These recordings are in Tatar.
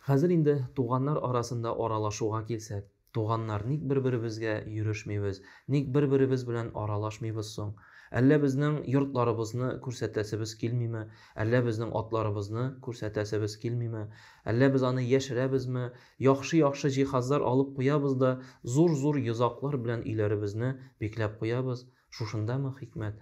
Хәзер инде туганнар арасында аралашуга килсәк, туганнар, ник бер-беребезгә йөрешмибез, ник бер-беребез белән аралашмыйбыз соң? Әллә безнең йортларыбызны күрсәтәсебез килмиме, әллә безнең атларыбызны күрсәтәсебез килмиме, әллә без аны яшерәбезме, яхшы-яхшы җиһазлар алып куябыз да, зур-зур йозаклар белән өйләребезне бикләп куябыз, шушындамы хикмәт?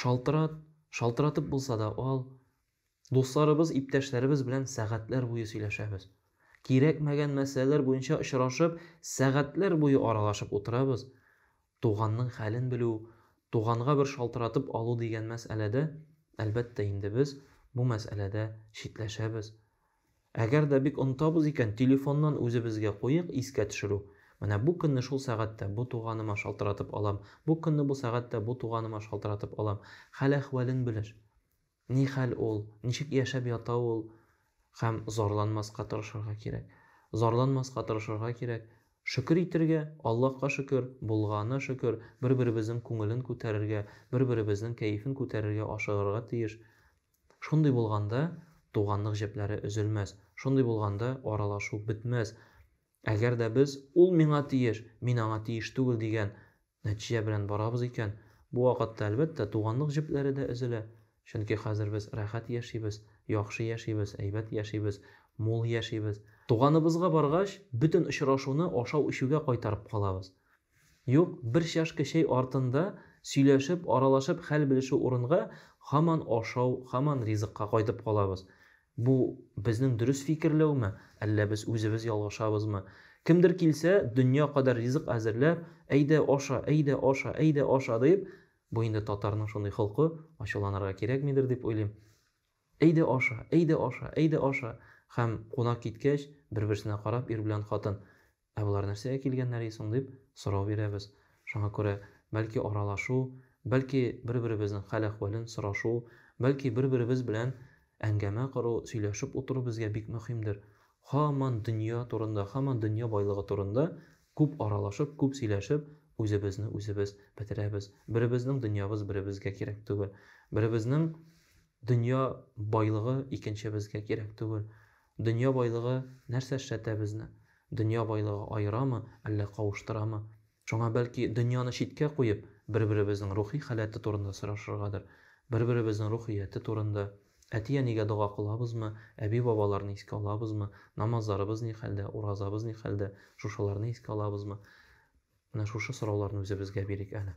Шалтырат, шалтыратып булса да ал. Дусларыбыз, иптәшләребез белән сәгатьләр буе сөйләшәбез. Кирәкмәгән мәсьәләләр буенча очрашып, сәгатьләр буе аралашып утырабыз. Туганның хәлен белү, туганга бер шалтыратып алу дигән мәсьәләдә, әлбәттә инде, без бу мәсьәләдә читләшәбез. Әгәр дә бик онытабыз икән, телефоннан үзебезгә куйыйк искә төшерү. Менә бу көнне шул сәгатьтә бу туганыма шалтыратып алам, бу көнне бу сәгатьтә бу туганыма шалтыратып алам. Хәл-әхвәлен белеш. Ни хәл ул, ничек яшәп ята ул? Һәм зарланмаска тырышырга кирәк. Зарланмаска тырышырга кирәк. Шөкер итергә, Аллаһка шөкер, булганына шөкер, бер-беребезнең күңелен күтәрергә, бер-беребезнең кәефен күтәрергә ашыгырга тиеш. Шундый булганда, туганлык җепләре өзелмәс, шундый булганда, аралашу бетмәс. Әгәр дә без, ул миңа тиеш, мин аңа тиеш түгел дигән нәтиҗә белән барабыз икән, бу вакытта, әлбәттә, туганлык җепләре дә өзелә. Чөнки хәзер без рәхәт яшибез, яхшы яшибез, әйбәт яшибез, мул яшибез. Туганыбызга баргач, бөтен очрашуны ашау-эчүгә кайтарып калабыз. Юк, бер чашка чәй артында сөйләшеп, аралашып хәл белешү урынга, һаман ашау, һаман ризыкка кайтып калабыз. Бу, безнең дөрес фикерләүме, әллә без үзебез ялгышабызмы? Кемдер килсә, дөнья кадәр ризык әзерләп, әйдә, аша, әйдә, аша, әйдә, аша, дип, бу инде татарның шундый холкы, ачуланырга кирәкмидер дип уйлыйм. Әйдә, аша, әйдә, аша, әйдә, аша. Һәм, кунак киткәч, бер-берсенә карап, ир белән хатын, Ә болар нәрсәгә килгәннәр и соң дип сорау бирәбез. Шуңа күрә, бәлки аралашу, бәлки бер-беребезнең хәл-әхвәлен сорашу, бәлки бер-беребез белән әңгәмә кору, сөйләшеп утыру безгә бик мөхимдер. Һаман дөнья турында, һаман дөнья байлыгы турында күп аралашып, күп сөйләшеп, үзебезне үзебез бетерәбез. Беребезнең дөньябыз беребезгә кирәк түгел. Беребезнең дөнья байлыгы икенчебезгә кирәк түгел. Дөнья байлыгы нәрсә эшләтә безне? Дөнья байлыгы аерамы, әллә кавыштырамы? Шуңа, бәлки, дөньяны читкә куеп, бер-беребезнең рухи халәте турында сорашыргадыр, бер-беребезнең рухияте турында, әти-әнигә дога кылабызмы, әби-бабаларны искә алабызмы, намазларыбыз ни хәлдә, уразабыз ни хәлдә, шушыларны искә алабызмы? Менә шушы сорауларны үзебезгә бирик әле.